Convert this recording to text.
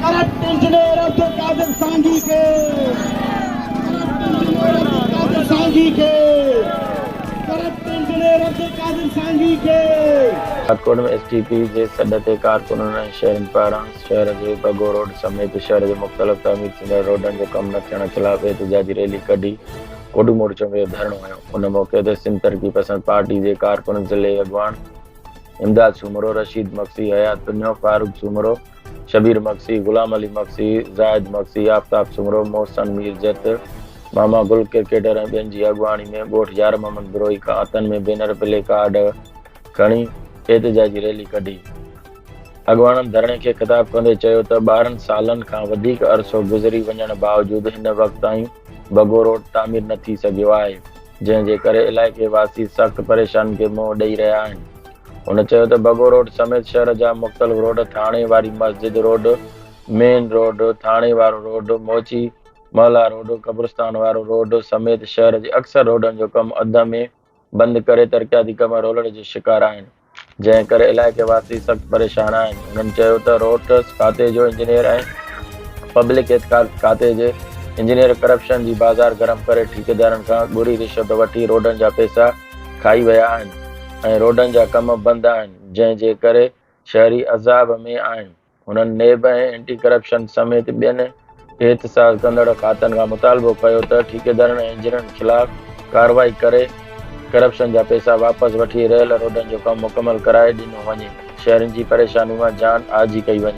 Corrupt engineer Abdul Qadir Sangi کي corrupt engineer Abdul Qadir Sangi کي corrupt engineer Abdul Qadir Sangi کي. راڄڪوٽ ۾ ايس ٽي پي جي سڏ تي ڪارڪنن ۽ شهرين پاران شهر جي بگو روڊ سميت شهر جي مختلف تعمير ٿيندڙ روڊن جو ڪم نه ٿيڻ خلاف احتجاجي ريلي ڪڍي ڪوڏو مورچو ۾ اهو ڌرڻو هنيو ان موقعي تي سنڌ ترقي پسند پارٽي جي ڪارڪن ضلعي اڳواڻ امداد سومرو، رشيد مگسي، حيات پنهو، فاروق سومرو، شبير مگسي، غلام علي مگسي، زاهد مگسي، آفتاب سومرو، محسن ميرجت، ماما گل ڪرڪيٽر ۽ ٻين جي اڳواڻي ۾ ڳوٺ يار محمد بروهي کان هٿن ۾ بينر پلي ڪارڊ کڻي احتجاجي ريلي ڪڍي. اڳواڻن ڌرڻي کي خطاب ڪندي چيو ته ٻارهن سالن کان وڌيڪ عرصو گذري وڃڻ باوجود هن وقت تائين بگو روڊ تعمير نه ٿي سگهيو آهي. جنهن جي ڪري علائقي واسي سخت پريشانين کي منهن ڏئي رهيا آهن. هن چيو ته بگو روڊ سميت شهر جا مختلف روڊ ٿاڻي واري مسجد روڊ، مين روڊ، ٿاڻي وارو روڊ، موچي محلا روڊ، قبرستان وارو روڊ سميت شهر جي اڪثر روڊن جو ڪم اڌ ۾ بند ڪري ترقياتي ڪم رولڻ جو شڪار آهن. جنهن ڪري علائقي واسي سخت پريشان آهن. هنن چيو ته روڊز کاتي جو انجنيئر ۽ پبلڪ اعتقاد کاتي جي انجنيئر ڪرپشن جي بازار گرم ڪري ٺيڪيدارن کان ڳري رشوت وٺي روڊن جا پئسا کائي ويا آهن ۽ روڊن جا ڪم بند آهن جنهن جي ڪري شهري عذاب ۾ آهن. هنن نيب ۽ اينٽي ڪرپشن سميت ٻين احتساج ڪندڙ کاتن کان مطالبو ڪيو ته ٺيڪيدارن ۽ انجنيئرن خلاف ڪارروائي ڪري ڪرپشن جا پئسا واپس وٺي رهيل روڊن جو ڪم مڪمل ڪرائي ڏنو وڃي، شهرين جي پريشاني مان جان آجي ڪئي وڃي.